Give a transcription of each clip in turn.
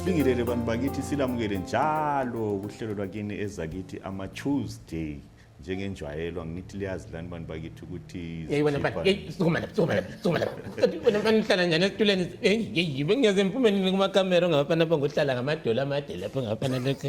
sibingelele bantu bakithi silamukele njalo kuhlelo lwakini ezakithi ama-tuesday njengenjwayelo ngithi liyazi lani bantu bakithi ukuthi yeyi wena mfana yeyi sukuma lapha sukuma lapha sukuma lapha kanti wena mfana uhlala njani esitulweni yeyi yeyi bengiyaze ngiphumelele kumakamera ongabafana apha ngohlala ngamadolo amade lapho ngabafana lokho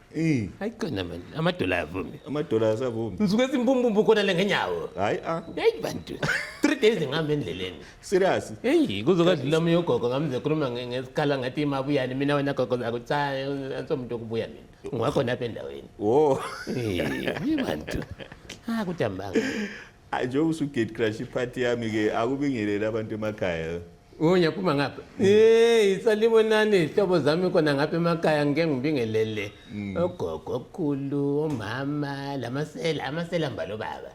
Eh, hayi qina man amadola ayavumi amadola ayasavumi ngisuke simpumpumpu khona le ngenyawo hayi a heyi bantu three days ngihamba endleleni serious heyi kuzokadlula omunye ugogo ngamze khuluma nge- ngesikhala ngathi imabuyani mina wena gogo zakho cha ansomuntu okubuya mina ngiwakhona apha endaweni wo heyi bantu ah kudambanga njengoba usugate crash iphathi yami ke akubingeleli abantu emakhaya Oh, ngiyaphuma ngapha hey salibonani izihlobo zami khona ngapha emakhaya ngike ngibingelele mm. ogogo okhulu omama lamasela amasela mbalo baba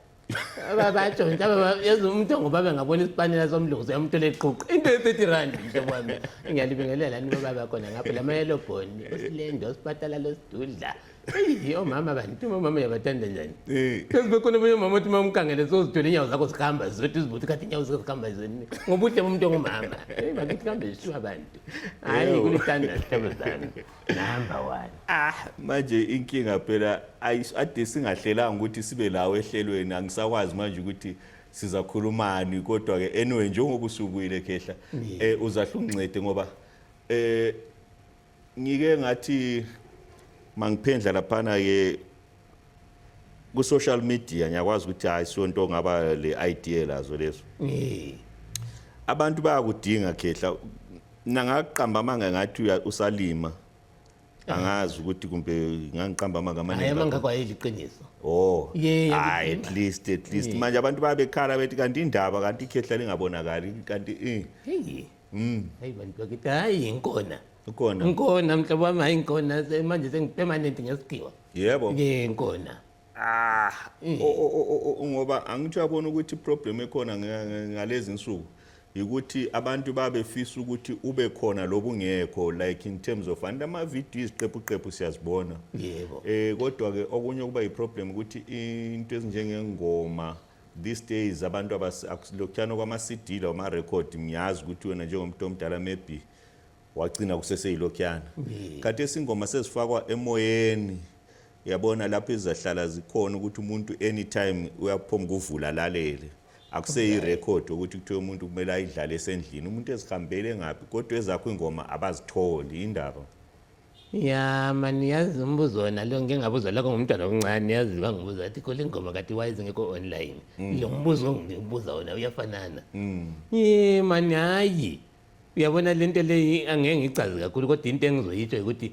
babatsho nje yazi umuntu ongubaba ngabona isipanela somlungu siyamthola eqhuqa into ye-thirty rand mhlobo wami ngiyalibingelela ni bobaba khona ngapha la mayelobhoni usilendo sipatala losidudla Eyi omama kanti uma umama uyabathanda njani? Eh. Phezu bekhona omunye umama othi uma umkangele sozidwele inyawo zakho zikhamba zodwa izibuthi kathi inyawo zakho zikhamba zoni. Ngobuhle bomuntu ongumama. Eyi bakithi kambe zishiwa abantu. Hayi Ewu. kulithanda sihlobo zami. Number one. Ah, manje inkinga phela ayi- ade singahlelanga ukuthi sibe lawo ehlelweni angisakwazi manje ukuthi sizakhulumani kodwa ke anyway njengoba usubuyile khehla eh uzahlungcede ngoba eh Ngike ngathi mangiphendla laphana ke ku social media ngiyakwazi ukuthi hayi sonto ngaba le idea lazo leso. Eh. Abantu bayakudinga khehla nangaqamba amanga ngathi usalima. angazi ukuthi kumbe ngangiqamba amanga amaningi hayi amanga kwayeli iqiniso oh yeah hayi at least at least manje abantu babekhala bethi kanti indaba kanti ikhehla lingabonakali kanti eh Mm. Hey bantu bakithi hayi inkona. Inkona. Inkona mhlobo wami hayi inkona manje sengipermanent ngesigqiwa. Yebo. Ke inkona. Ah, mm. ngoba angithi uyabona ukuthi problem ekhona ngalezi insuku ukuthi abantu babefisa ukuthi ube khona lobungekho like in terms of and ama video iziqephu qephu siyazibona. Yebo. Eh kodwa ke okunye kuba iproblem ukuthi into ezinjengengoma these days abantu akusilokhuyana kwama-cd lawo ma-record ngiyazi ukuthi wena njengomuntu omdala maybe wagcina kuseseyilokhuyana kanti esingoma sezifakwa emoyeni yabona lapho izahlala zikhona ukuthi umuntu anytime uyaphoma ukuvula lalele akuseyirekhodi ukuthi kuthiwe umuntu kumele ayidlale esendlini umuntu ezihambele ngaphi kodwa ezakho ingoma abazitholi indaba ya mani yazi umbuzo wona lo ngike ngabuza lokho ngumntwana omncane yazi bangibuza athi khole ingoma kati wise ngekho online mm. lo mbuzo ongibuza wona uyafanana mm. ye mani hayi uyabona le nto leyi angeke ngicazi kakhulu kodwa into engizoyitsho ukuthi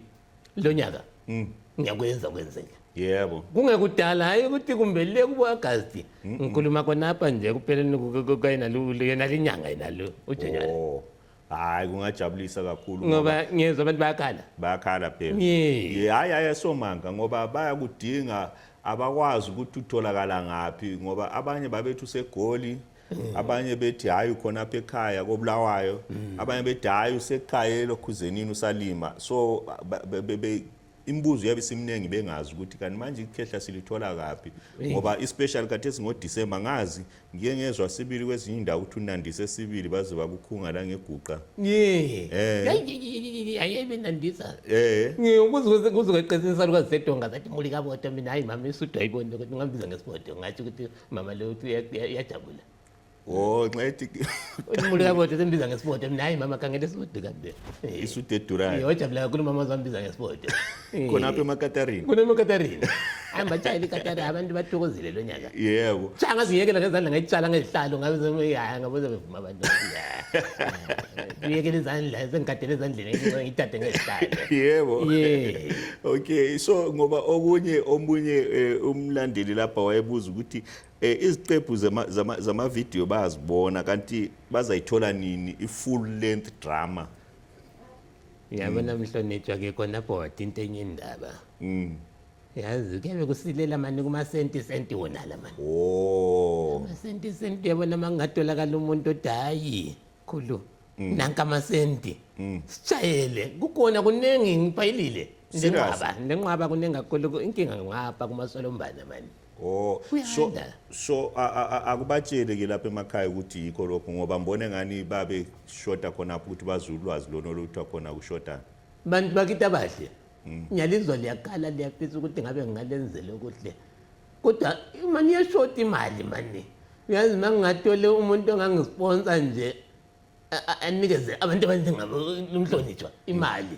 lo nyaka mm. ngiyakwenza kwenzeka yebo kungekudala hayi ukuthi kumbe le kubo agasti ngikhuluma khonapha nje kupheleni kuyena le nyanga yena lo ujenyana oh. hayi kungajabulisa kakhulu ngoba ngiyezwa abantu bayakhala bayakhala phela hayi hayi ayesomanga ngoba bayakudinga abakwazi ukuthi utholakala ngaphi ngoba abanye babethu segoli mm. abanye bethi hayi khona apha ekhaya kobulawayo mm. abanye bethi hayi usekhaya elokhuzenini usalima so imibuzo yabe simningi bengazi ukuthi kanti manje ikhehla silithola kaphi ngoba ispecial kade singoDecember ngazi ngike ngezwa sibili kwezinye indawo ukuthi unandise sibili baze bakukhunga la ngeguqa eh ayebe nandisa eh ngikuze kuze kweqinisa lukazi sedonga zathi muli kaboto mina hayi mama isudwa ibone ukuthi ngambiza ngesibodo ngathi ukuthi mama lo uyajabula Oh nxa ethi Umuntu kabodo sembiza ngesibodo mina hayi mama khangele isibodo kanje. isudu edurayo Yojabula kakhulu mama zambiza ngesibodo. khonapha emakatarini Kunemakatarina. Hayi mbatshayile ikatari abantu bathokozile lo nyaka. yebo Cha ngaziyekela ngezandla ngayitshala ngezihlalo ngabe semiyaya ngabuze bevuma abantu. Uyekela izandla sengigadele ezandleni ngithathe ngezihlalo. yebo Yeah. okay so ngoba okunye omunye eh, umlandeli lapha wayebuza ukuthi Eh iziqephu zama zama zama video bayazibona kanti bazayithola nini i full length drama. Yabona mm. mhlonitshwa ke kona bhodi into enye indaba. Mm. Yazi kebe kusilela mani kuma senti senti wona la mani. Oh. Kuma senti senti yabona mangatholakala umuntu odayi. Khulu. Mm. Nanka amasenti. Mm. Sishayele kukhona kuningi ngipayilile. Ndenqaba ndenqaba kuningi kakhulu inkinga ngapha kuma solombana mani. Oh, so Uyanda. so a- a- a- akubatshele ke lapha emakhaya ukuthi yikho lokho ngoba mbone ngani babe shota khona apho ukuthi bazi ulwazi lona oluthiwa khona kushotana. bantu bakithi abahle ngiyalizwa liyakhala liyafisa ukuthi ngabe ngingalenzela okuhle kodwa uma niyeshota imali mani uyazi uma ngingathole umuntu ongangisponsa nje a- a- anikeze abantu abanjengabo umhlonitshwa imali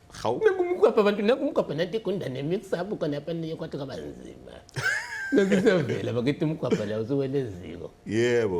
hawu kumgwabha abantu nakumgwabha nanti igunda nemixabu khona apaniye kwathi kwaba nzima Ngisevela bakithi umgwabha la usuwele eziko. Yebo.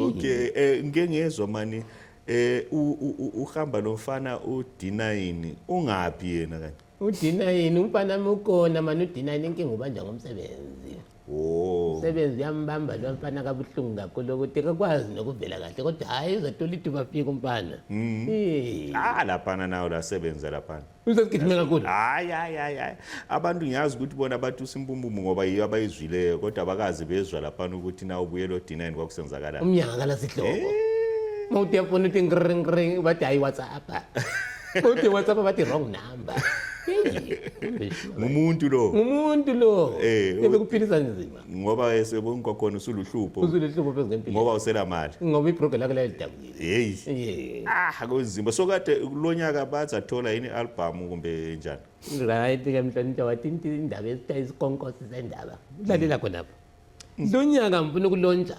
Okay, eh ngike ngezwe mani eh uhamba lomfana udina yini? Ungaphi yena kanje? Udina yini? Umfana mukona mani udina yini inkinga ubanja ngomsebenzi. Oh. Umsebenzi uyambamba lo mfana kabuhlungu kakhulu ukuthi kakwazi nokuvela kahle kodwa hhayi uzothola ithuba fika umfana. Mm. Eh. Ah laphana nawo la sebenza laphana. Usesigijime kakhulu. Hayi hayi hayi hayi. Abantu ngiyazi ukuthi bona bathi usimbumbumu ngoba yiyo abayizwileyo kodwa abakazi bezwa laphana ukuthi na ubuye lo D9 kwakusenzakalani. Umnyaka la sihlobo. Eh. Mawuthi yafuna ukuthi ngring ngring bathi hayi WhatsApp. Uthi WhatsApp bathi wrong number. ngumuntu lo ngumuntu lo eh ebekuphilisa nzima ngoba esebona kwakhona usuluhlupho usuluhlupho phezu ngempilo ngoba usela mali ngoba ibroke lakhe layidabukile hey ah kunzima so kade kulonyaka bathi athola yini album kumbe njani right ke mhlonipha wathi indaba esitayisikonkosi sendaba lalela khona lapho lonyaka ngifuna ukulontsha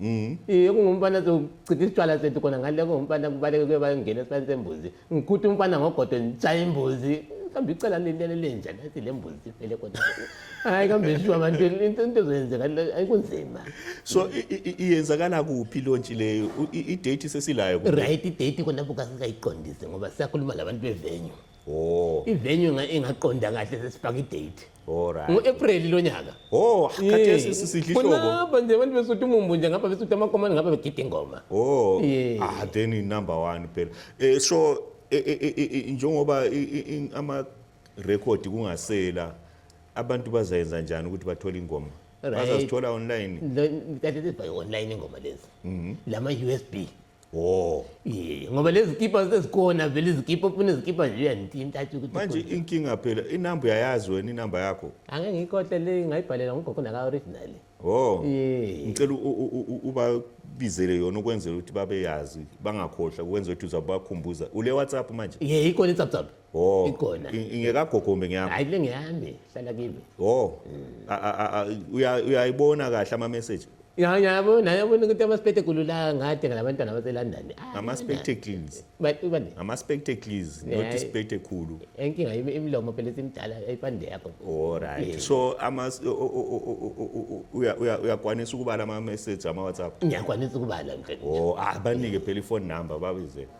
Mm. Iye kungumfana zochitha isitshwala sethu khona ngale kungumfana kubaleke kuye bayongena esibaleni sembuzi. Ngikhutha umfana ngogodo ngitshaye imbuzi. Kambe icela lilele lenja nathi le mbuzi iphele khona. Hayi kambe shuwa abantu into into zoyenzeka ayikunzima. So iyenzakala kuphi lontshi leyo? I date sesilayo. Right i date khona buka singayiqondise ngoba siyakhuluma labantu bevenue. Oh. Ivenue ingaqonda kahle sesifaka i date. Alright. ngo-april lo nyaka Oh, khathesi sisidla ihlobo. kunaba nje abantu besuthi umumbu nje ngapha besuthi amakomane ngapha begida ingoma Oh, Yeah. ah then i number 1 phela. Eh so eh, eh, eh, eh, eh, njengoba i- i- i- ama record kungasela abantu bazayenza njani ukuthi bathole ingoma? Right. Bazazithola online. Lo- that is by online ingoma lezi lama-usb Oh. Yeah, ngoba lezi kipa ezikona vele izikipa ufuna izikipa nje uyanithinta athi ukuthi Manje ukhona. inkinga phela inamba uyayazi wena inamba yakho. angeke ngiyikhohle le ngayibhalela ngogogo naka original Oh. Yeah. Ngicela u- u- u- u- ubabizele yona ukwenzela ukuthi babeyazi bangakhohlwa ukwenza ukuthi uzabakhumbuza. Ule WhatsApp manje. ye ikhona i-tsaptsap Oh. Ikona. Ingekagogombe ngiyami. Hayi le ngiyami, hlala kimi. Oh. Uya uyayibona kahle ama message. Ya ngiyabona, ngiyabona ukuthi ama spectacles la ngade ngalabantwana base London. Ah, ama spectacles. Bathi bani? Ama spectacles, not spectacle. Enkinga imilomo phela simdala ayipande yakho. All right. So ama uya uya uyakwanisa ukubala ama message ama WhatsApp. Ngiyakwanisa ukubala mfethu. Oh, abanike phela ifone number babize.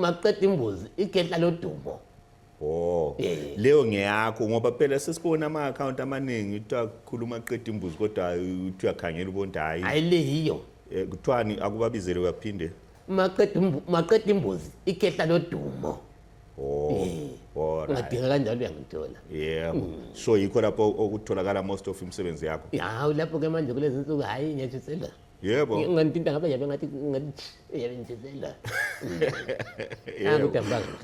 makuqeda imbuzi igedla lodumo Oh. Eh. Leyo ngeyakho ngoba phela sesibona ama account amaningi kuthiwa khuluma qeda imbuzi kodwa uthi uyakhangela ubonti hayi. Hayi le yiyo. Eh, kuthiwani akubabizele uyaphinde? Maqeda maqeda imbuzi ikhehla lodumo. Oh. Eh. Ngadinga kanjalo uyangithola. Yebo. Hmm. So yikho lapho okutholakala most of imisebenzi yakho. Hawu lapho ke manje kulezi nsuku hayi ngiyajisela. yebo ngantinta ngabe yabe ngathi ngathi yabenzela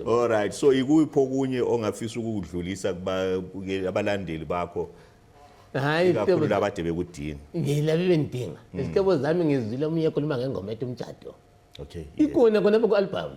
all right so ikuphi okunye ongafisa ukudlulisa abalandeli bakho hayi kakhulu labade bekudinga ngilabe bendinga hmm. izihlobo zami ngizwile omunye ekhuluma ngengoma ethi umjado okay ikona kona ku-albhamu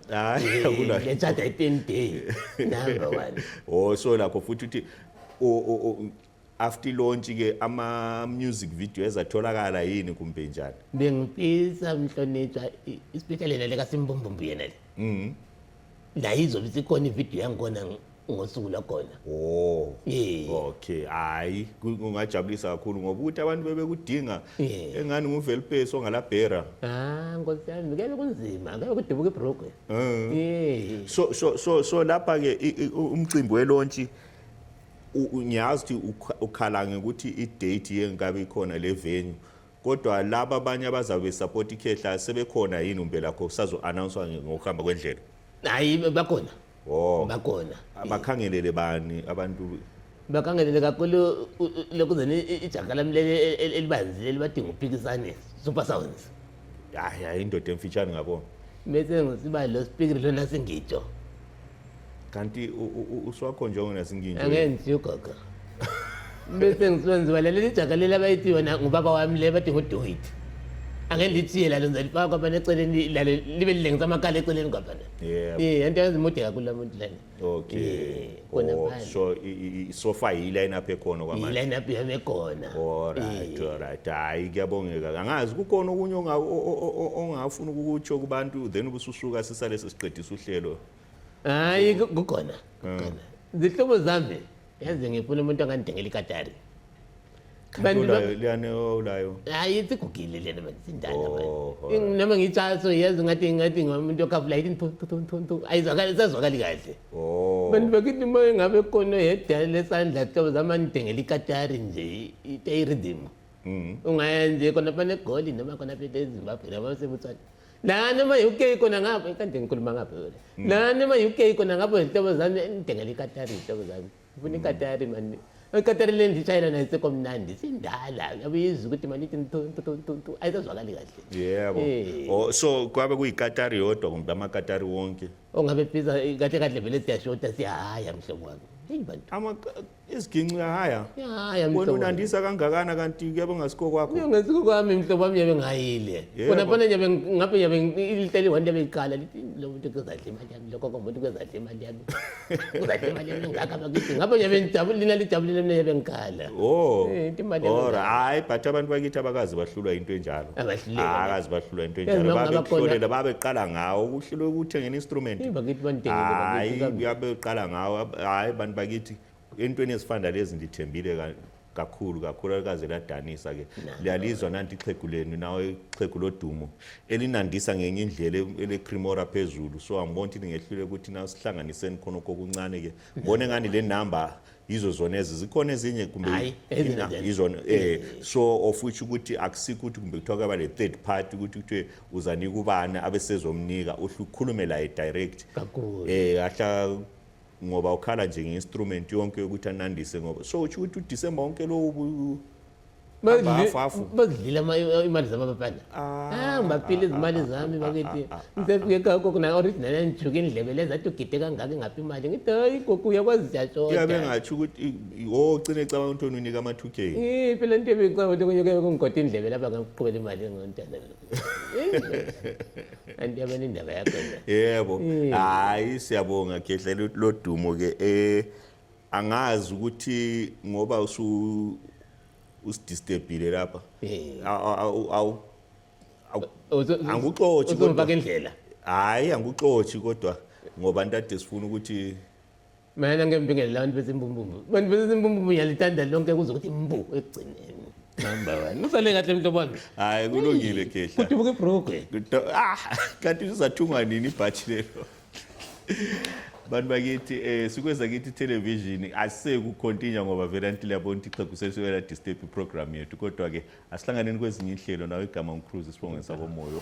hayi akuna ngetshatha i-10 day number one oh so nakho futhi uthi o- o- o- after launch ke ama music video ezatholakala yini kumbe njani bengifisa mhlonitshwa i- especially nale kasimbumbumbu yena le la izobe isikhona ividiyo yangikona ngosuku logona oh yeah. okay hayi kungajabulisa kakhulu ngoba ukuthi abantu bebekudinga yeah. engani nguvelipesi ongalabhera ah nkosi yami ngeke kunzima ngeke kudubuka ibroke uh. Ah. yeah. so so so so lapha ke umcimbi welontshi ngiyazi ukuthi ukhala ngokuthi idate yengabe ikhona le venue Kodwa laba abanye abazabe support ikhehla sebekhona yini umbelakho kusazo announcewa ngokuhamba kwendlela? Hayi bakhona. Oh. Bakhona. Abakhangelele bani abantu bakhangelele kakhulu lokuzeni ijaga lami leli e, e, elibanzi lelibadinga uphikisane super sounds hayi hayi indoda emfitshane ngabona mese ngisiba lo speaker lona singitsho kanti uswakho njengo nasinginje angenzi ugogo bese ngiswenziwa leli jaga leli abayithiwa ngubaba wami le bathi ngodoyit angelithiye lalo ngizalifaka kwabana eceleni lalo libe lilengisa amakhala eceleni kwabana eh into yenza imude kakhulu la muntu lana okay kona oh, so isofa yile line up ekhona kwamanje yile line up yami ekhona alright alright hayi kuyabongeka angazi kukhona okunye ongafuna ukukutsho kubantu then ubususuka sisalese siqedisa uhlelo hayi ku- kukhona kukhona zihlobo zami yazi ngifuna umuntu angandengela ikatari Kanti Bantu ba- ulayo liyane ulayo hayi sigugile lena manje sindala Oh, manje alright. noma ngitshaso yazi ngathi ngathi ngomuntu okhafula yithi ntu- ntu- ntu- ntu. ayizwakali sazwakali kahle oh bantu bakithi uma engabe khona yedwa lesandla hlobo zami andidengela ikatari nje itayiridimo Mhm. ungaya nje khona phana egoli noma khona phela ezimbabwe noma sebutswana nanoma yi-ukey kona ngapho kade ngikhuluma ngapho vele mm. nanoma yi-ukey kona ngapho zihlobo zami ngidengela ikatari zihlobo zami ngifuna ikatari mani ikatari le ndishayela nayo sekomnandi sindala yabe yizwa ukuthi mani ithi ntu ayisazwakali kahle yebo eh. oh, so kwabe kuyikatari yodwa kumbe amakatari wonke ongabe biza kahle kahle vele siyashoda siyahaya mhlobo wami heyi bantu Isiginci uyahaya. Uyahaya mhlobo. Wena unandisa kangakana kanti kuyabe ngasiko kwakho. Ngenza kwami mhlobo wami yabe ngayile. Kona phana yabe ngabe yabe iliteli wani yabe iqala lithi lo muntu kuzadla imali yami lokho komuntu kuzadla imali yami. Kuzadla imali yami ngaka bakithi ngabe yabe ngijabulile nina lijabulile mina yabe ngikhala. Oh. Eh imali yami. Ora hayi but abantu bakithi abakazi bahlulwa into enjalo. angahluleka Ah, akazi bahlulwa into Yazi enjalo noma ngabe khona- babekuhlolela babeqala ngawo ukuhlulwa ukuthengela instrument Hey, bakithi banidengele, hayi bakithi, bakithi. babeqala ngawo ab- hayi bantu bakithi entweni ezifana lezi ndithembile ka- kakhulu kakhulu alikaze ladanisa ke liyalizwa nanti ixhegu lenu nawo ixhegu lodumo elinandisa ngenye indlela e- elecrimora phezulu so angibona ukuthi ningehlule ukuthi nasihlanganiseni khona kokuncane ke ngibona engani le number yizo zona ezi zikhona ezinye kumbe Hayi, even ina- then. yizona eh so of which ukuthi akusikho ukuthi kumbe kuthiwa kaba le-third party ukuthi kuthiwe uzanika ubani abesezomnika uhlu- ukhulume laye direct Kakhulu. eh ahla ngoba ukhala nje nge-instrument yonke yokuthi anandise ngoba so utsho ukuthi udisemba wonke lowo bu- bazidlile imali zamababana ah, ngibapile izimali zami bakithi ngisefike kakho kona orithi nana ngijuke indlebe leza athi ugide kangaka ingaphi imali ngithi hayi gogo uyakwazi jatshoyabe ngatsho ukuthi wo ugcine ecabanga ukuthi onunika ama-two k iphi le nto ebicabanga ukuthi kunyuke kungigoda indlebe lapha ngakuqhubela imali ngontana anti yabona indaba yakho yebo hayi siyabonga khehla lodumo-ke um eh, angazi ukuthi ngoba usu usidisturbile lapha awu angikuxothi kodwa indlela hayi angikuxothi kodwa ngoba ntade sifuna ukuthi mina ngembingele labantu besimbumbumbu abantu besimbumbumbu yalithanda lonke kuze ukuthi mbu ekugcineni number 1 usale kahle mntu wami hayi kulungile khehla kudubuka ibroke ah kanti uzathungwa nini ibhathi lelo bantu bakithi eh sikweza kithi television asekukhontinja ngoba vele anti liyabona ukuthi ixhegu selisukela disturb iprogram yethu kodwa ke asihlanganeni kwezinye inhlelo nawe igama umcruise sibonge sakomoyo